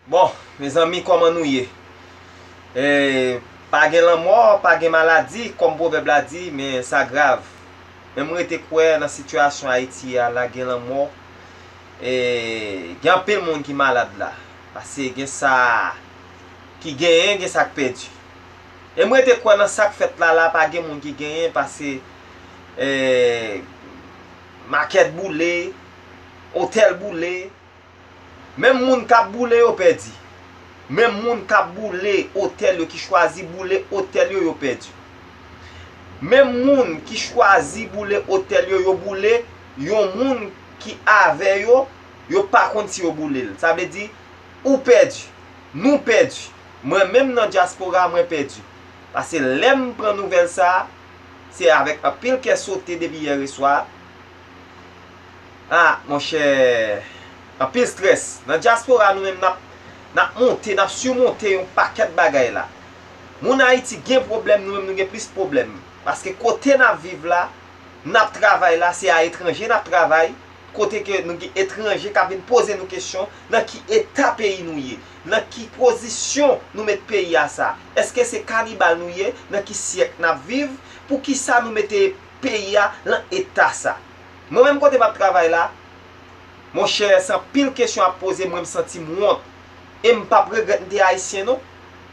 Bon mezanmi koman nou ye pa gen lanmò pa gen maladi kòm pwovèb la di men sa grav men m rete kwè nan sitiyasyon ayiti a la gen lanmò gen anpil moun ki malad la pase gen sa ki genyen gen sa k pèdi e m rete kwè nan sa k fèt la la pa gen moun ki genyen pase makèt boule otèl boule Menm moun kap boule yo pèdi. Menm moun kap boule otèl yo ki chwazi boule otèl yo yo pèdi. Menm moun ki chwazi boule otèl yo yo boule yon moun ki avè yo yo pa konn si yo boule l. Sa vle di ou pèdi. Nou pèdi. Mwen menm nan dyaspora mwen pèdi. Pase lèm pran nouvèl sa se avèk anpil kè sote depi yèreswa. Ah monchè anpil stress nan diaspora nou menm nap nap monte nap surmonte yon pakèt bagay la moun ayiti gen problèm nou menm nou gen plis problèm paske kote nap viv la nap travay la se a etranje nap travay kote ke nou gen etranje kap vin poze nou kesyon nan ki eta peyi nou ye nan ki pozisyon nou met peyi a sa eske se kanibal nou ye nan ki syèk nap viv poukisa nou mete peyi a lan eta sa. Mwen menm kote map travay la, mon chè se anpil kesyon ap poze mwen msantim wont. E mpap regrèt mte ayisyen non.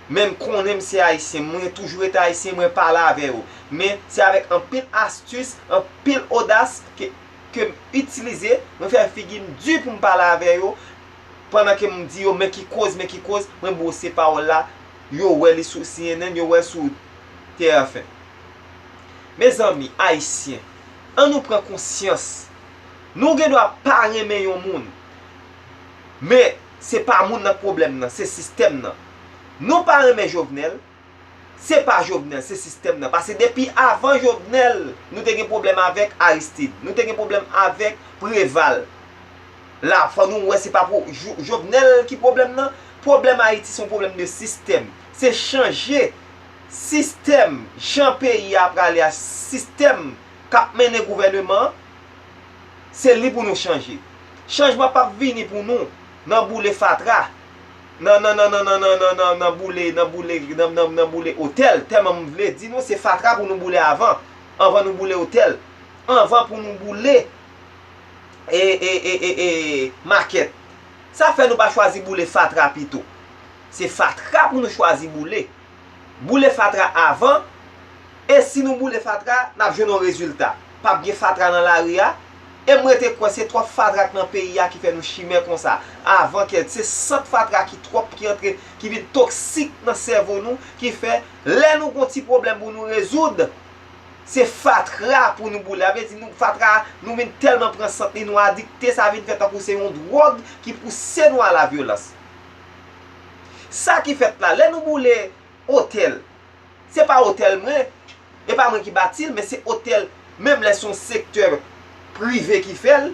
Men mkonnen mse ayisyen, mwen toujou rete ayisyen, mwen pale avè yo. Men se avèk anpil astis, anpil odas ke kem itilize, mwen fè figim di poum pale avè yo, pandan ke mdi yo men ki koz, men ki koz, mwen bwose pawòl la, yo wè li sou cnn, yo wèl sou TFM. Mezanmi ayisyen an nou pran konsyans nou gen dwa pa renmen yon moun men se pa moun nan k pwoblèm nan se sistèm nan nou pa renmen jovenel se pa jovenel se sistèm nan pase depi avan jovenel nou te gen pwoblèm avèk aristid nou te gen pwoblèm avèk preval la fò nou wè se pa jovenel ki pwoblèm nan pwoblèm ayiti son pwoblèm de sistèm se chanje Sistèm, jan peyi a prale a, sistèm k ap mennen gouvèneman an, se li pou nou chanje. Chanjman p ap vini pou nou nan boule fatra, nan nan nan nan nan nan nan nan nan boule nan boule nan nan nan boule otèl, tèlman m vle di nou se fatra pou nou boule avan, anvan nou boule otèl, anvan pou nou boule e e e e e makèt. Sa fè nou pa chwazi boule fatra pito? Se fatra pou nou chwazi boule. Boule fatra avan e si nou boule fatra n ap jwenn yon rezilta. P ap gen fatra nan lari a e m rete kwè se twòp fatra k nan peyi a ki fè nou chimè konsa. Avan kè se sant fatra ki twòp ki antre ki vin toksik nan sèvo nou ki fè lè nou gen yon ti pwoblèm pou nou rezoud se fatra pou nou boule. Sa vle di nou fatra a nou vin tèlman pran sant li nou adikte sa vin fè tankou se yon dwòg ki pouse nou a la vyolans. Sa ki fèt la, lè nou boule otèl, se pa otèl mwen, e pa mwen ki bati l, men se otèl, menm lè se yon sektè prive ki fè l,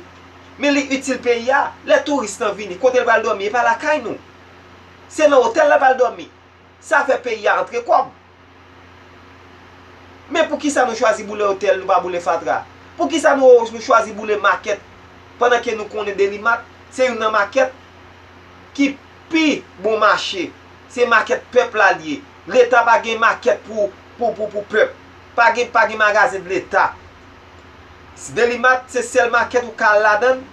men li itil peyi a, lè touris lan vini, kote l pral dòmi, e pa lakay nou. Se nan otèl la l pral dòmi. Sa fè peyi a antre kòb. Men poukisa nou chwazi boule otèl nou pa boule fatra? Poukisa nou chwazi boule makèt pandan ke nou konnen delimat se youn nan makèt ki pi bon mache se makèt pèp la li ye leta pa gen makèt pou pèp pa gen magazen leta delimat se sèl makèt ou ka al ladann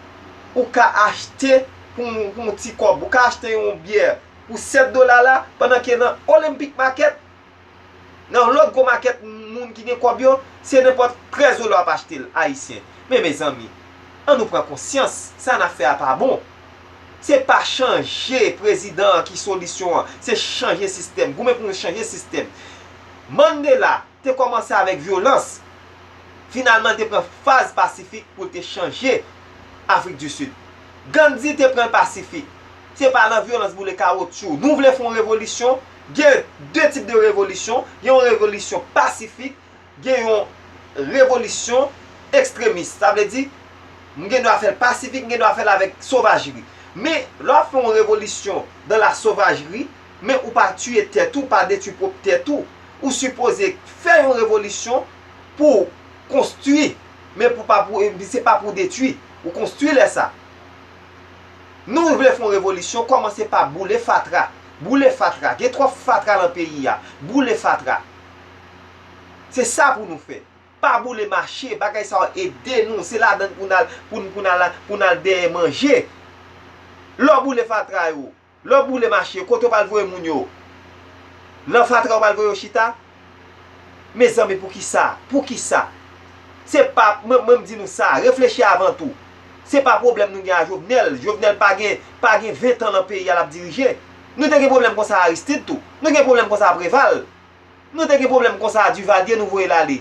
ou ka achte pou yon ti kòb ou ka achte yon byè pou 7 dola la pandan ke nan Olympic market nan lòt gwo market moun ki gen kòb yo se nenpòt 13 dola wap achtel ayisyen men mezanmi an nou pran konsyans sa nap fè a pa bon se pa chanje prezidan an ki solisyon an se chanje sistèm goumen pou nou chanje sistèm Mandela te kòmanse avèk vyolans finalman te pran faz pasifik poul te chanje Afrik di Sid Gandhi te pranl pasifik. Se pa lan vyolans boule kawotchou nou vle fon revolisyon, gen de tip de revolisyon, gen yon revolisyon pasifik, gen yon revolisyon ekstremis. Sa vle di, m gen dwa fèl pasifik, m gen dwa fèl avèk sovajri. Men, lè wap fè yon revolisyon dan la sovajri, men ou pa tiye tèt ou, pa detwi pwop tèt ou. Ou sipoze fè yon revolisyon pouw konstwi, men pou pa pou, se pa pou detwi. Ou konstwi lè sa. Nou vle fon revolisyon kòmanse pa boule fatra boule fatra gen twòp fatra lan peyi a boule fatra se sa pou nou fè pa boule mache bagay sa yo ede nou se ladann pou n al pou n al dèyè manje lè w boule fatra yo Lè w boule mache yo, kote w pral voye moun yo? Lan fatra ou pral voye yo chita? Mezanmi poukisa? Poukisa? Se pa, mwen mwen di nou sa, reflechi avan tou. Se pa pwoblèm nou gen a Jovenel, Jovenel pa gen, pa gen 20 tan lan peyi a lap dirije. Nou te gen pwoblèm konsa a Aristide tou. Nou gen pwoblèm konsa a Preval. Nou te gen pwoblèm konsa a Duvalier nou voye l ale.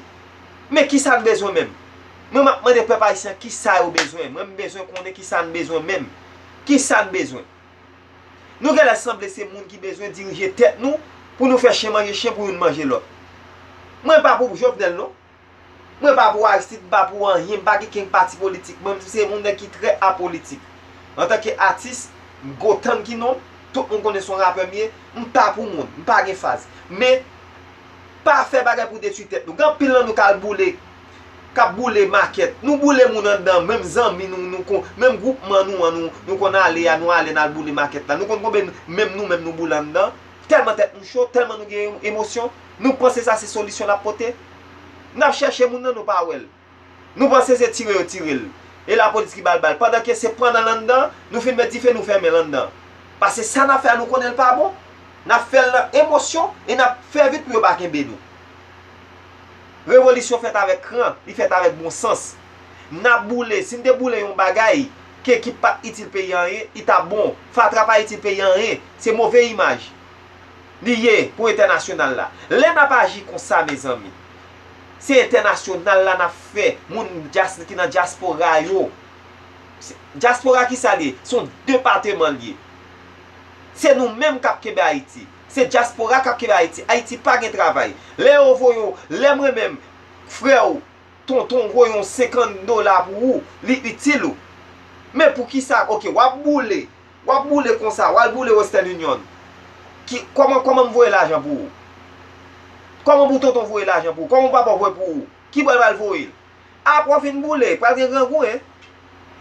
Men kisa n bezwen menm? Mwen m ap mande pèp ayisyen an kisa yo bezwen? Mwen m bezwen konnen kisa n bezwen menm? Kisa n bezwen? Nou genlè sanble se moun ki bezwen dirije tèt nou pou nou fè chen manje chen pou youn manje lòt. Mwen pa pou Jovenel non. Mwen pa pou Aristide, m pa pou anyen, m pa gen kenk pati politik, mwen m se yon nèg ki trè apolitik. Antanke atis, Gotham ki non m, tout moun konnen son rapè m ye, m pa pou moun, m pa gen faz. Men, pa fè bagay pou detwi tèt nou. Gen anpil nan nou k al boule, k ap boule makèt. Nou boule moun anndan, menm zanmi nou, nou kon, menm gwoupman nou an, nou konn ale a, nou ale n al boule makèt la. Nou konn konbyen menm nou menm nou boule anndan? Tèlman tèt nou cho, tèlman nou gen emosyon, nou panse sa se solisyon l ap pote? Nap chèche moun nan nou pa wèl. Nou panse se tire yo tirel. E la polis ki bal bal. Pandan ke se pran nan landan, nou fin met dife nou fèmen landan. Pase sa nap fè a nou konnenl pa bon. Nap fèl nan emosyon e nap fè vit pou yo pa kenbe nou. Revolisyon fèt avèk kran, li fèt avèk bon sans. Nap boule, sin te boule yon bagay ke ki pat itil peyi anyen, li tap bon. Fatra pa itil peyi anyen. Se move imaj. Li ye pou entènasyonal la. Lè nap aji konsa mezanmi. Se entènasyonal la nap fè moun dyas ki nan dyaspora yo. Dyaspora ki sa li ye? Son depateman li ye. Se nou menm kap kenbe Ayiti. Se dyaspora kap kenbe Ayiti. Ayiti pa gen travay. Lè yo voye w, lè mwen menm, frè w, tonton w voye yon 50 dola pou ou, li itil ou. Men pou kisa, ok wap boule, Wap boule konsa, wal boule western union. Ki, kòman, kòman m voye lajan pou ou? Kòman pou tonton voye lajan pou ou? Kòman pou papa w voye pou ou? Ki bò l pral voye l? Apre w fin boule, pral gen grangou hein.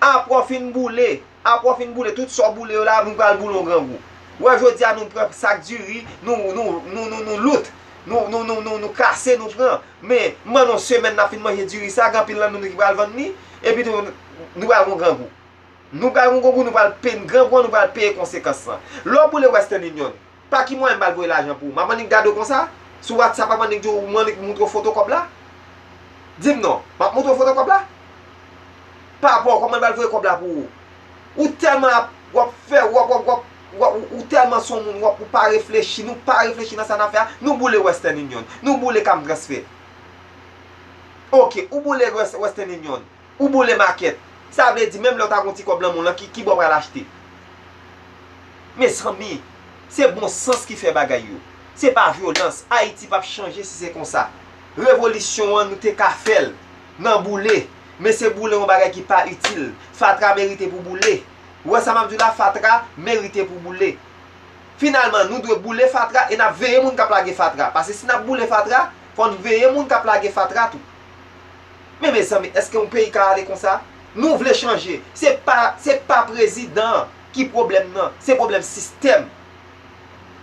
Apre w fin boule, apre w fin boule tout sa w boule yo la nou pral boule yon grangou. Ou wè jodi a nou pran sak diri, nou, nou, nou, nou, nou loot, nou, nou, nou, nou, nou kase nou pran. Men, m ban nou yon semèn nap fin manje diri sa, gen anpil nan nou ki pral vann li, epi tou, nou pral gen yon grangou. Nou pral gongo pou nou pral peye n gran gou nou pral peye konsekans lan. Lè w boule Western Union, pa ki mwayen m pral voye lajan pou ou? M ap annik gade w konsa? Sou whatsapp m ap annik di w m annik montre w foto kòb la? Di m non, m ap montre w foto kòb la? Pa bon, kòman m pral voye kòb la pou ou? Ou tèlman ap, w ap fè, w ap, w ap, w ap, w ap, ou tèlman son moun, w ap, ou pa reflechi, nou pa reflechi nan sa n ap fè a, nou boule Western Union, nou boule Cam Transfert. Ok, ou boule Western Union. Ou boule makèt. Sa vle di menm lè w ta gen yon ti kòb lan men w lan ki ki bo w pral achte? Mezanmi! Se bon sans ki fè bagay yo. Se pa vyolans. Ayiti pap chanje si se konsa. Revolisyon an nou te ka fè l nan boule. Men se boule yon bagay ki pa itil. Fatra merite pou boule. Ou wè sa m ap di w la? Fatra merite pou boule. Finalman, nou dwe boule fatra e n ap veye moun k ap lage fatra. Pase si n ap boule fatra, fò n veye moun k ap lage fatra tou. Men mezanmi eske yon peyi ka ale konsa? Nou vle chanje, se pa se pa prezidan an ki pwoblèm nan, se pwoblèm sistèm.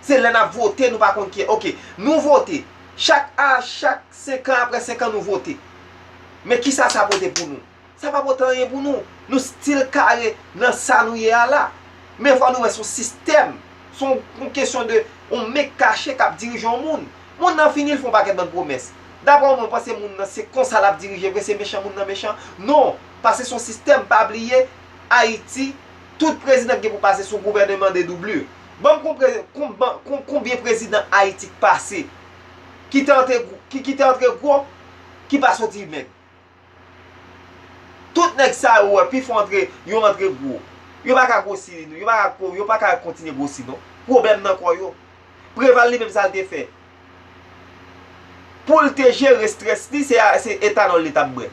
Se lè nap vote nou pa konn ki ok, nou vote, chak a chak 5 an aprè 5 an nou vote. Men kisa sa pote pou nou? Sa pa pote anyen pou nou. Nou stil kare nan sa nou ye a la. Men fò nou wè son sistèm, son yon kesyon de yon men kache kap dirije yon moun. Mond nan fini l fon pakèt bann pwomès. Daprè w menm ou panse mond nan se konsa lap dirije vre se mechan mond nan mechan? Non, pase son sistèm pa bliye Ayiti tout prezidan k gen pou pase son gouvèneman de doublure. Banm konpre konbyen prezidan Ayiti k pase ki te antre ki te antre gwo ki pa soti mèg. Tout nèg sa yo ou wè pifò antre yo antre gwo. Yo pa ka gwosi non, yo pa ka ko, yo pa ka kontinye gwosi non. Pwoblèm nan kò yo. Preval li menm sa l te fè? Pou l te jere strès li se etanòl li t ap bwè.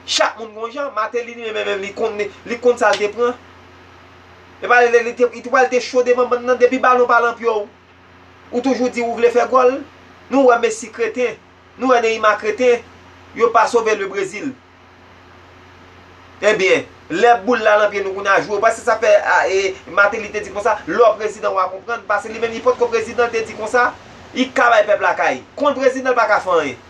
Chak moun gon jan, Mateli li menm menm li konn li, li konn sa l te pran. E pa li te, li te pral te cho devan bann nan depi balon pa lan pye w. Ou toujou di ou vle fè gòl. Nou wè Messi kreten. Nou wè Neymar kreten, yo pa sove le Brésil. Ebyen, lè boul la lan pye nou kounye a jwe ou pa se sa fè Martelly te di konsa, lè w prezidan wa konprann, pase li menm li potko prezidan l te di konsa, li ka bay pèp la kay. Kon prezidan l pa ka fè anyen.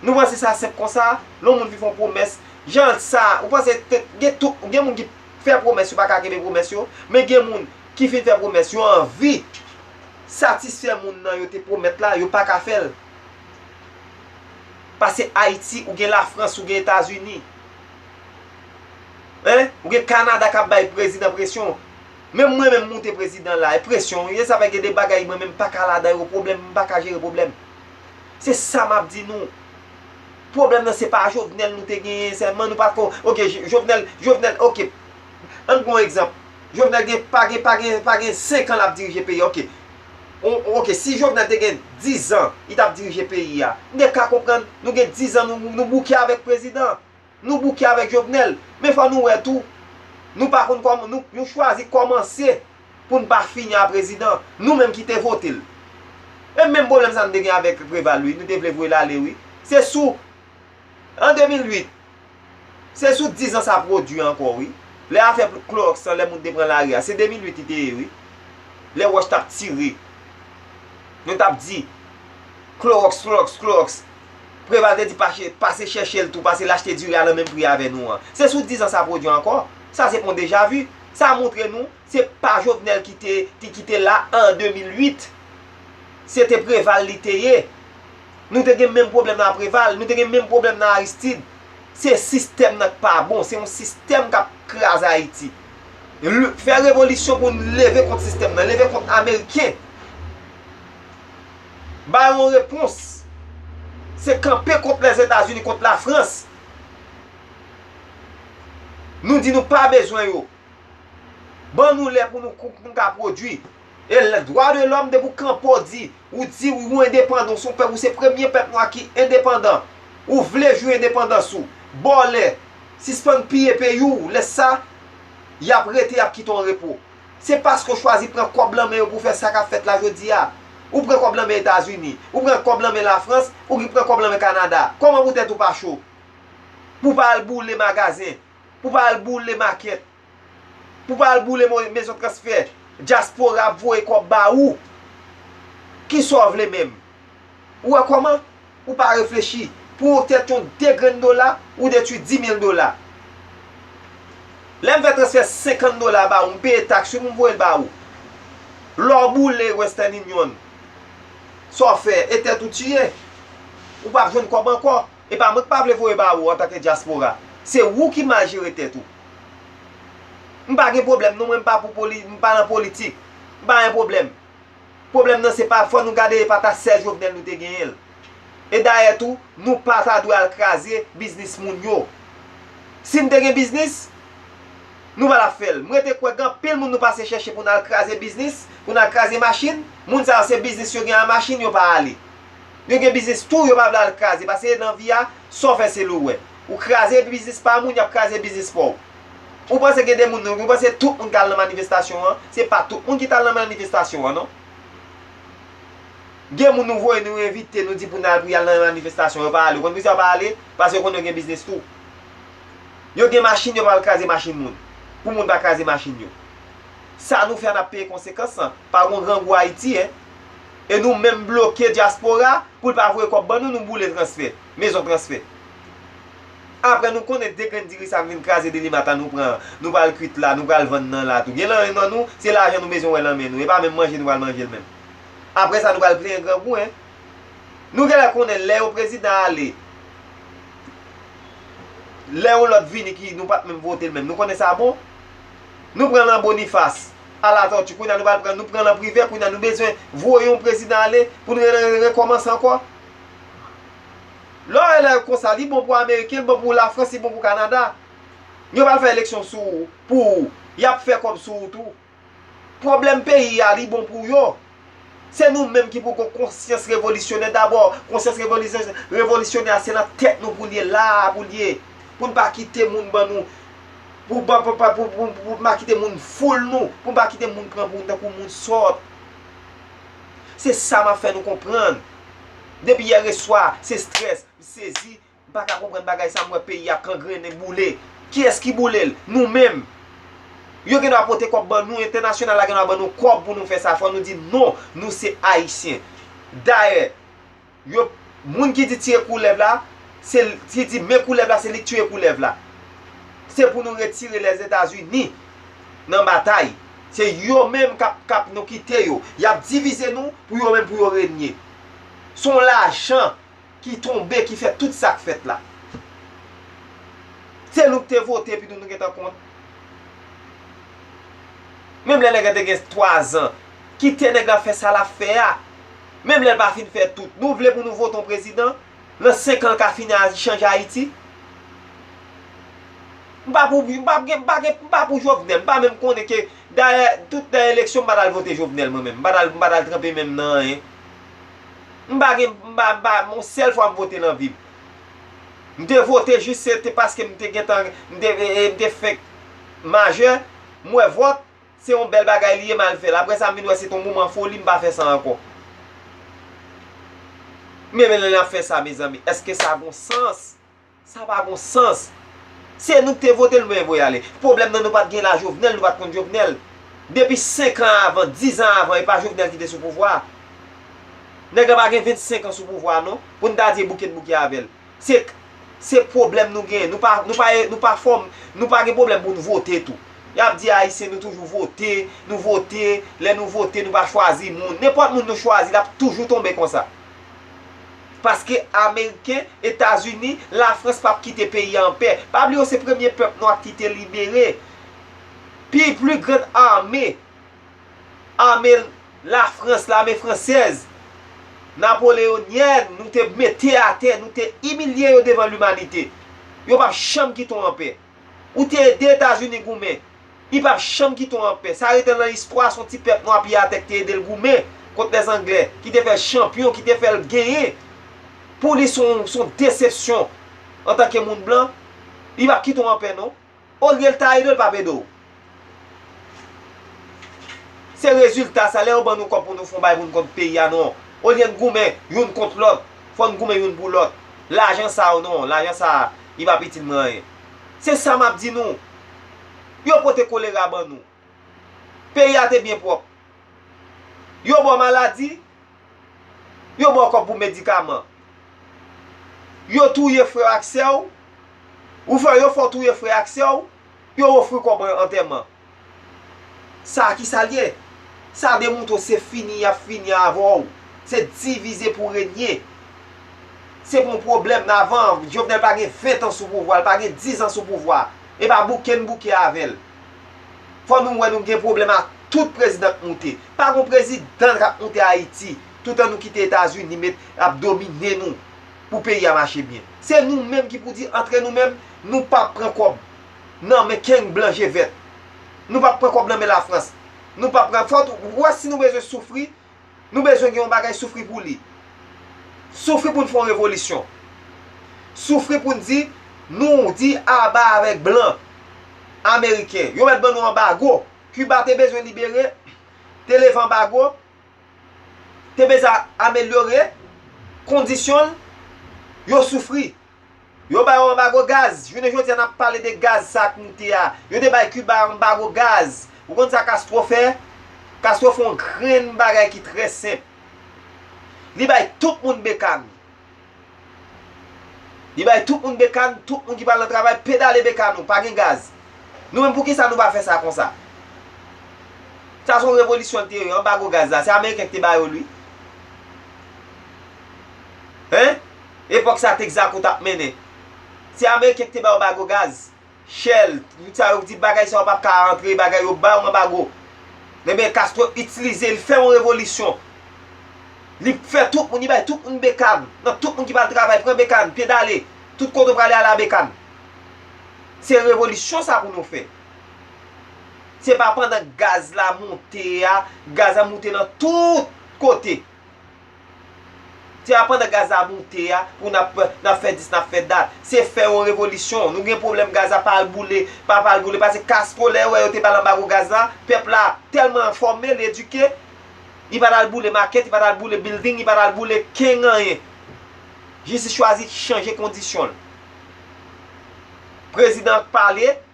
Nou panse sa senp konsa, lè yon moun fin fè yon pwomès, jan sa, ou panse gen tout, gen moun ki fè pwomès yo pa ka kenbe pwomès yo, men gen moun ki fin fè pwomès yo anvi. satisfè moun nan yo te pwomèt la yo paka fèl pase ayiti ou gen la frans ou gen etazini hein ou gen kanada kap bay prezidan presyon menm mwen menm moute prezidan la e presyon wi e sa fè gen de bagay mwen menm m paka ladan yo pwoblèm m paka jere pwoblèm se sa map di nou pwoblèm nan se pa jovenel nou te genyen sèlman nou pako ok jovenel jovenel ok. Ann pran yon egzanp, Jovenel gen pa gen pa gen pa gen 5 an lap dirije peyi a ok. Ok si Jovenel te gen 10 zan li tap dirije peyi a, m gen ka konprann nou gen 10 zan nou bouke avèk prezidan, nou bouke avèk Jovenel. Men fò nou wè tou, nou pa konn kòman nou nou chwazi kòmanse pou n pa fini a prezidan, nou menm ki te vote l. E menm pwoblèm sa nou te gen avèk Preval wi, nou te vle voye l ale wi. Se sou an 2008. Se sou 10 ans sa prodwi ankò wi. Lè afè klorox lan lè moun te pran lari a se 2008 li te ye wi. Lè wòch tap tire. Yo tap di klorox klorox klorox. Preval te di pase chèchel tou pase lachte diri a nan menm pri avè nou an. Se sou 10 ans sa prodwi ankò. Sa se pon deja vu. Sa montre nou se pa jovenel ki te la an 2008. Se te preval li te ye. Nou te gen menm pwoblèm nan Preval, nou te gen menm pwoblèm nan Aristide. Se sistèm nan k pa bon, se yon sistèm k ap kraze Ayiti. Fè revolisyon pou n leve kont sistèm nan, leve kont ameriken. Ba yo yon repons. Se kanpe kont Lèzetazini, kont Lafrans. Nou di nou pa bezwen yo. Ban nou lè pou nou ka pwodui. E dwa de lòm depi w kanpe w di. Ou di wi ou endepandan ou son pèp ou se premye pèp nwa ki endepandan ou vle jwi endepandans ou bòlè sispann piye peyi w lè sa yap rete yap kite w an repo se paske w chwazi pran kòb lan men yo pou w fè sa kap fèt la jodi a ou pran kòb lan men etazini ou pran kòb lan men lafrans ou ki pran kòb lan men kanada kòman pou tèt ou pa cho pou w pa al boule magazen pou w pa al boule makèt. Pou pa al boule mezon transfè dyaspora ap voye kòb ba ou. Kisa w vle menm? Ou wè kòman? Ou pa reflechi. Pou yon tèt yon 2 grenn dola, ou detwi 10,000 dola. Lè m fè transfè 50 dola ba ou, m peye taks wi pou m voye l ba ou. Lè w boule Western Union, sa w fè? E tèt ou tiye. Ou pa p jwenn kòb ankò. Epa mwen k pa vle voye ba ou antanke dyaspora. Se ou ki mal jere tèt ou. M pa gen pwoblèm non mwen m pa pou poli m pa nan politik. M pa gen pwoblèm. Pwoblèm nan se pa fò nou gade e pa ta sè Jovenel nou te genyen l. E dayè tou nou pa ta dwe al kraze biznis moun yo. Si n te gen biznis nou pa ta fè l. M rete kwè gen anpil moun nou pase chèche pou n al kraze biznis, pou n al kraze machin, moun sa yo se biznis yo gen a machin yo pa ale. Yo gen biznis tou yo pa vle al kraze paske nan vi a sa w fè se li w wè. Ou kraze biznis pa moun y ap kraze biznis pa w. Ou panse gen de moun ou panse tout moun k al nan manifestasyon an se pa tout moun ki t al nan manifestasyon an non. Gen moun nou voye nou envite nou di pou n al pou y al nan manifestasyon yo pa ale ou konn poukisa yo pa ale paske yo konnen yo gen biznis tou. Yo gen machin yo pa al kraze machin moun pou moun pa kraze machin yo. Sa nou fè a n ap peye konsekans lan pa gon grangou Ayiti hein. e nou menm bloke dyaspora pou l pa voye kòb ban nou, nou boule transfè, mezon transfè. Aprè nou konnen 2 grenn diri sa k vin kraze Delimart la nou pran, nou pral kuit la, nou pral vann nan la tou. Gen lanmen nan nou, se lajan nou bezwen wè lan men nou, e pa menm manje nou pral manje l menm. Aprè sa nou pral plenyen grangou hein. Nou genlè konnen lè yon prezidan ale, lè yon lòt vini ki nou pa t menm vote l menm, nou konnen sa bon? Nou pran lan Boniface. A la tortue kounya nou pral pran nou pranl an prive kounya nou bezwen voye yon prezidan ale pou nou re rekòmanse ankò lè w wè lè yo konsa li bon pou ameriken li bon pou la france li bon pou canada yo pral fè eleksyon sou pou ou yap fè kòb sou ou tou pwoblèm peyi a li bon pou yo. Se nou menm ki pou gon konsyans revolisyonè dabò, konsyans revolisyonè a se nan tèt nou pou l ye, la a pou l ye, pou n pa kite moun ban nou, pou n pa kite moun foul nou, pou n pa kite moun pran pou nou tankou moun sòt. Se sa m ap fè nou konprann. Depi yè reswa, se strès, m sezi. M pa ka konprann bagay sa m wè peyi a ap kangrennen boule kiyès ki boule l nou menm yo gendwa pote kòb ban nou entènasyonal la gendwa ban nou kòb pou nou fè sa fò nou di non nou se ayisyen dayè yo moun ki di tiye koulèv la se l ki di men koulèv la se li k tiye koulèv la se pou nou retire lèzetazini nan batay se yo menm k ap k ap nou kite yo y ap divize nou pou yo menm pou yo renye s on lajan. ki tonbe ki fè tout sak fèt la. Se nou ki te vote epi tou nou gentan kont. Menm lè nèg la te gen 3 zan, kite nèg la fè sa lap fè a. Menm lèl pa fin fè tout. Nou vle pou nou vote yon prezidan, nan 5 an l ka fin chanje Ayiti? M pa pou m pa pou Jovenel, m pa menm konnen ke dayè tout nan eleksyon m pa tal vote Jovenel mwen menm. M pa tal tranpe menm nan anyen. M pa gen, m pa, m pa, yon sèl fwa m vote nan vi m. M te vote jis se te paske m te gentan, m te, m te fenk majè, m wè vòt, se yon bèl bagay li ye m al fè l. Aprè sa m vin wè se te yon moman foli, m pa fè sa ankò. Men lè n ap fè sa mezanmi, èske sa gon sans? Sa pa gon sans. Se nou ki te vote l men voye ale. Pwoblèm nan nou pat gen la Jovenel nou pat konn Jovenel. Depi 5 an avan, 10 an avan epa Jovenel ki te sou pouvwa a. Nèg la pa gen 25 an sou pouvwa a non pou n ta di e bouke n bouke avè l. Se Se pwoblèm nou gen. Nou pa nou pa e nou pa fòm nou pa gen pwoblèm pou n vote tou. Y ap di Ayisyen nou toujou vote, nou vote, lè nou vote nou pa chwazi moun. Nenpòt moun nou chwazi l ap toujou tonbe konsa. Paske ameriken, etazini, la frans pap kite peyi a anpè. Pa bliye w se premye pèp nwa ki te libere. Pi pli grann ame, ame la frans, lame fransèz, napoleonyèn nou te mete atè, nou te imilye yo devan limanite. Yo pap janm kite w anpè. Ou te ede Etazini goumen. Li pap janm kite w anpè. Sa rete lan istwa se yon ti pèp nwa pi atè ki te ede l goumen kont lè zanglè, ki te fè l chanpyon, ki te fè l genyen. Pou li se yon desepsyon antanke moun blan. Li pap kite w anpè non. Olye l ta ede w, li pap ede w. Se rezilta sa lè yo ban nou kòb pou nou fon bagay pou nou konn peyi a non. Olye n goumen youn kont lòt, fò n goumen youn pou lòt. Lajan sa yo non, lajan sa a, li p ap itil mwen anyen. Se sa m ap di nou. Yo pote kolera ban nou. Peyi a te byen pwòp. Yo ba w maladi, yo ba w kòb pou medikaman. Yo touye frè w ak sè w, ou fè yo fè w touye frè ak sè w. Yo ofri w kòb antèman. Sa a ki sa l ye? Sa demontre w se fini y ap fini avè w. Se divize pou renye. Se pa yon pwoblèm nan avan an. Jovenel pa gen ventan sou pouvwa a, li pa gen dizan sou pouvwa a. E pa bouke n bouke avè l. Fò nou wè nou gen pwoblèm ak tout prezidan k moute. Pa gen yon prezidan k ap moute Ayiti toutan nou kite Etazini met ap domine nou. pou peyi a mache byen. Se nou menm ki pou di antre nou menm, nou pa ap pran kòb nan men keng blan je vèt. Nou pa ap pran kòb nan men Lafrans. Nou pa ap pran, fòk ou wè si nou bezwen soufri, nou bezwen gen yon bagay soufri pou li. Soufri pou n fè yon revolisyon. Soufri pou n di, nou di aba avèk blan ameriken. Yo mèt ban nou anbago. Kiba te bezwen libere, te leve anbago. te bezwen amelyore kondisyon l yo soufri. Yo ba yo anbago gaz, jounen jodi a n ap pale de gaz sa k moute a, yo te bay Kiba anbago gaz. Ou konn sa Castro fè? Castro fè yon grenn bagay ki trè senp. Li bay tout moun bekàn. Li bay tout moun bekan, tout moun ki pral nan travay pedale bekan nou, pa gen gaz. Nou menm poukisa nou pa fè sa konsa? Sa son revolisyon li te ye wi, anbago gaz la, se ameriken ki te ba yo l wi. Hein? Epòk sa Texaco tap mennen. Se ameriken ki te ba yo bago gaz. Shell, tout sa yo ki di bagay sa yo pap ka antre, bagay yo ba yo anbago. Enben Castro itilize, li fè yon revolisyon. Li fè tout moun, li bay tout moun bekann. Nan tout moun ki pral travay, pran bekann, pedale. Tout kote ou prale ale a bekann. Se revolisyon sa pou nou fè. Se pa pandan gaz la monte a, gaz la monte nan tout kote. Se pa pandan Gaza moute a pou nap fè dis nap fè dat. Se fè yon revolisyon. Nou gen pwoblèm Gaza pa al boule, pa pa al boule pase Castro lè yo wè yo te bal anbago gaz la, pèp la tèlman enfòme, li edike, li pa t al boule makèt, li pa t al boule bilding, li pa t al boule keng anyen. Jistis chwazi chanje kondisyon l. Prezidan an k pale.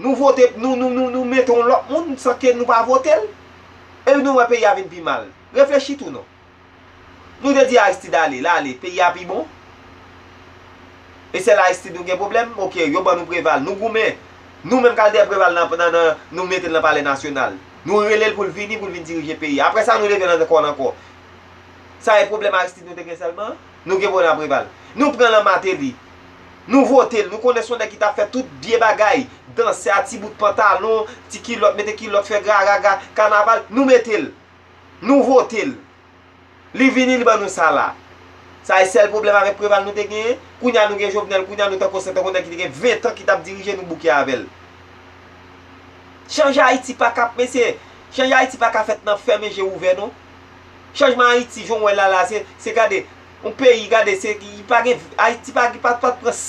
Nou vote p nou nou nou mete yon lòt moun san ke nou pa vote l? Epi nou wè peyi a vin pi mal. Reflechi tou non. Nou te di Aristide ale, l ale, peyi a pi bon? E sèl Aristide nou gen pwoblèm? Ok, yo ban nou Preval, nou goumen. Nou menm kal dèyè Preval nan nan nan nou mete l nan palè nasyonal. Nou rele l pou l vini pou l vin dirije peyi a. Aprè sa nou leve l ankò l ankò. Sa e pwoblèm Aristide nou te gen sèlman? Nou gen problèm ak Preval. Nou pran lan Martelly. Nou vote l. Nou konnen son nèg ki ta fè tout vye bagay. Dansè a ti bout pantalon, ti kilòt, mete kilòt, fè graraga, kanaval. Nou mete l. Nou vote l. Li vini li ban nou sa la. Sa e sèl problèm avèk Preval nou te genyen. Kounye a nou gen Jovenel, kounye a nou tankou se tankou nèg ki te gen 20 tan ki t ap dirije nou bouke avè l. Chanje Ayiti pa ka, mesye, chanje Ayiti pa ka fèt nan fèmen je ouvè non. Chanjman Ayiti jan w wè l la la se gade yon peyi gade se pa gen Ayiti pa pran